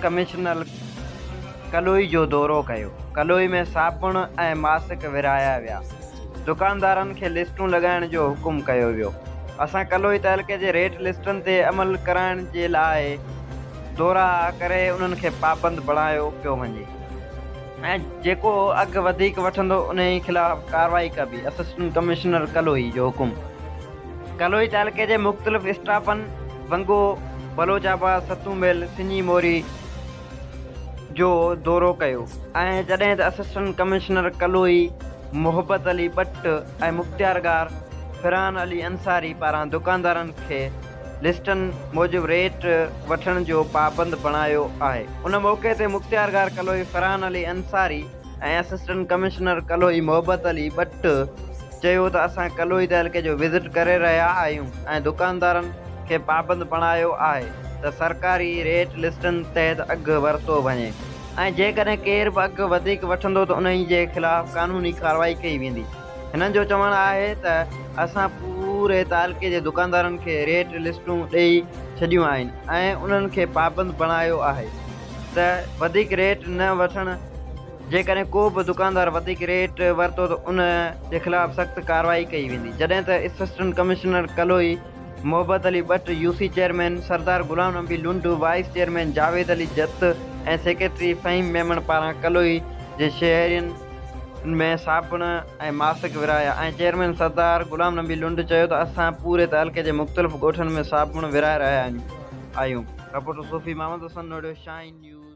Commissioner Kaloi جو دورو ڪيو، ڪلوئي ۾ صابڻ ۽ ماسڪ ورهايا ويا، دڪاندارن کي لسٽون لڳائڻ جو حڪم ڪيو ويو، اسان ڪلوئي تعلقي جي ريٽ لسٽن تي عمل ڪرائڻ جي لاء. دورا ڪري انهن کي پابند بڻايو پيو وڃي ۽ جيڪو اگهه وڌيڪ وٺندو انهي خلاف ڪارروائي ڪبي، اسسٽنٽ ڪمشنر ڪلوئي جو حڪم. ڪلوئي تعلقي جي مختلف اسٽاپن ونگو، بلوچ آباد، ستون مل، سڃي موري جو دورو ڪيو ۽ جڏهن ته اسسٽنٽ ڪمشنر ڪلوئي محبت علي ٻٽ ۽ مختيارگار فرحان علي انصاري پاران دڪاندارن کي لسٽن موجب ريٽ وٺڻ جو پابند بڻايو آهي. ان موقعي تي مختيارگار ڪلهوئي فرحان علي انصاري ۽ اسسٽنٽ ڪمشنر ڪلهوئي محبت علي ٻٽ چيو ته اسان ڪلهوئي تعلقي جو وزٽ ڪري رهيا آهيون ۽ دڪاندارن کي پابند بڻايو آهي ته سرڪاري ريٽ لسٽن تحت اگهه ورتو وڃي ۽ جيڪڏهن ڪير به اگهه وڌيڪ وٺندو ته انهي جي خلاف قانوني ڪارروائي ڪئي ويندي. هنن جو چوڻ آهي ته اسان پوري تعلقي جي دڪاندارن کي ريٽ لسٽون ڏئي ڇڏيون آهن ۽ انهن کي پابند بڻايو آهي ته وڌيڪ ريٽ نه وٺڻ جيڪڏهن ڪو به دڪاندار وڌيڪ ريٽ ورتو ته ان جي خلاف سخت ڪارروائي ڪئي ويندي جڏهن ته اسسٽنٽ ڪمشنر ڪلهوئي محبت Ali Bhatt, U C chairman Sardar Ghulam Nabi Lund, vice chairman Javed Ali Jat ۽ secretary Fahim Memon پاران ڪلوئي جي شهرين ۾ صابڻ ۽ ماسڪ ورهايا ۽ چيئرمين سردار غلام نبي لنڊ چيو ته اسان پوري تعلقي جي مختلف ڳوٺن ۾ صابڻ ورهائي رهيا آهيون. Reporter Sufi Muhammad Hassan Noido, Shaheen news.